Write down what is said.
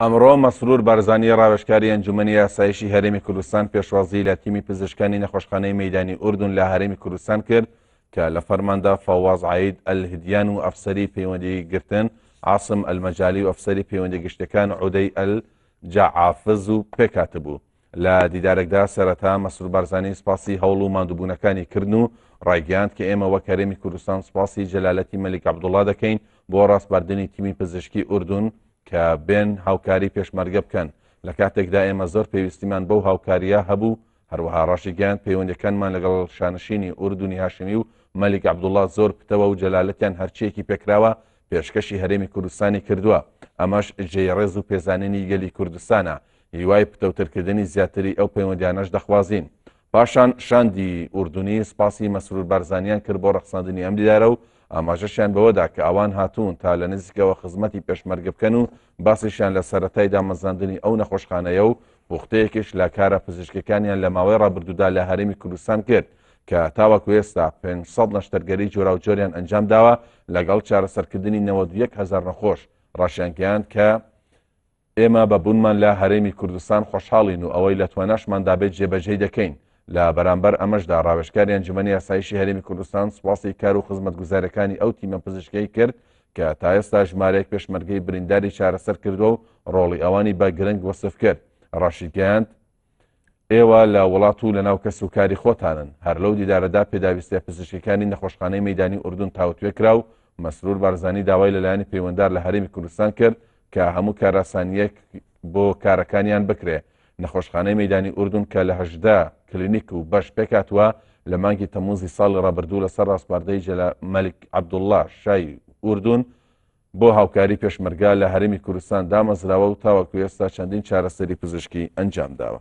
ئەمڕۆ مەسرور بارزانی ڕاوێژکاری ئەنجومەنی یاسایشی هەرێمی کوردستان پێشوازی لە تیمی پزیشکانی نەخۆشخانەی مەدانی ئوردون لە هەرێمی کوردستان کرد کە لە فەرماندا فەواز عید ئەلهدیان و ئەفسەری پەیوەندی گرتن عاصم ئەلمەجای و ئەفسەری پەیوەندی گشتەکان عودەی ئەل جاعافز و پێکاتبوو لە دیدارەکدا سەرەتا مەسرور بارزانی سپاسی هەوڵ و ماندووبوونەکانی کردن و ڕایگەیاند کە ئێمە وەک هەرێمی کوردستان سپاسی جەلالەتی مەلیک عەبدوڵڵا دەکەین بۆ ڕاسپاردنی تیمی پزیشکی ئوردون کە بێن هاوکاری پێشمەرگە بکەن لە کاتێکدا ئێمە زۆر پێویستیمان بەو هاوکاریە هەبوو هەروەها ڕاشی گەیاند پەیوەندەکانمان لەگەڵ شانشینی ئوردونی هاشمی و مەلیک عەبدوڵڵا زۆر پتەوە و جەلالەتیان هەرچیەکی پێکراوە پێشکەشی هەرێمی کوردستانی کردووە ئەمەش جێی ڕێز و پێزانینی گەلی کوردستانە هیوای پتەوترکردنی زیاتری ئەو پەیوەندیانەش دەخوازین. پاشان شاندی ئوردنی سپاسی مەسرور بارزانیان کرد بۆ ڕەخساندنی ئەم دیدارە و ئاماژەشیان بەوەدا کە ئەوان هاتوون تا لە نزیکەوە خزمەتی پێشمەرگە بکەن و باسیشیان لە سەرەتای دامەزراندنی ئەو نەخۆشخانەیە و پوختەیەکیش لە کارە پزیشکەکانیان لە ماوەی ڕابردوودا لە هەرێمی کوردستان کرد کە تاوەکو ئێستا 500 نەشتەرگەری جۆراوجۆریان ئەنجام داوە لەگەڵ چارەسەرکردنی 91 هزار نەخۆش ڕاشیانگەیاند کە ئێمە بە بوونمان لە هەرێمی کوردستان خۆشحاڵین و ئەوەی لە تواناشماندا بێت جێبەجێی دەکەین، لە بەرامبەر ئەمەشدا راوێژکاری ئەنجومەنی ئاسایشی هەرێمی کوردستان سوپاسی کار و خزمەتگوزاریەکانی ئەو تیمە پزیشکیەی کرد کە تا ئێستا ژمارەیەک پێشمەرگەی برینداری چارەسەر کردوە و رۆڵی ئەوانی بە گرنگ وەسف کرد، راشیگەیاند، ئێوە لە وڵات و لەناو کەس و کاری خۆتانن، هەر لەو دیدارەدا پێداویستیە پزیشکیەکانی نەخۆشخانەی مەیدانی ئوردون تاوتوێ کرا و مەسرور بارزانی داوای لە لایەنی پەیوەندار لە هەرێمی کوردستان کرد کە هەموو کاراسانیەک بۆ کارەکانیان بکرێ. نەخۆشخانەی مەیدانی ئوردون کە لە هەژدە کلینیک و بەش پێکهاتووە، لە مانگی تەمووزی ساڵی ڕابردوو لەسەر ڕاسپاردەی جەلال مەلیک عەبدوڵڵا شای ئوردون، بۆ هاوکاری پێشمەرگە لە هەرێمی کوردستان دامەزراوە و تاوەکو ئێستا چەندین چارەسەری پزیشکی ئەنجامداوە.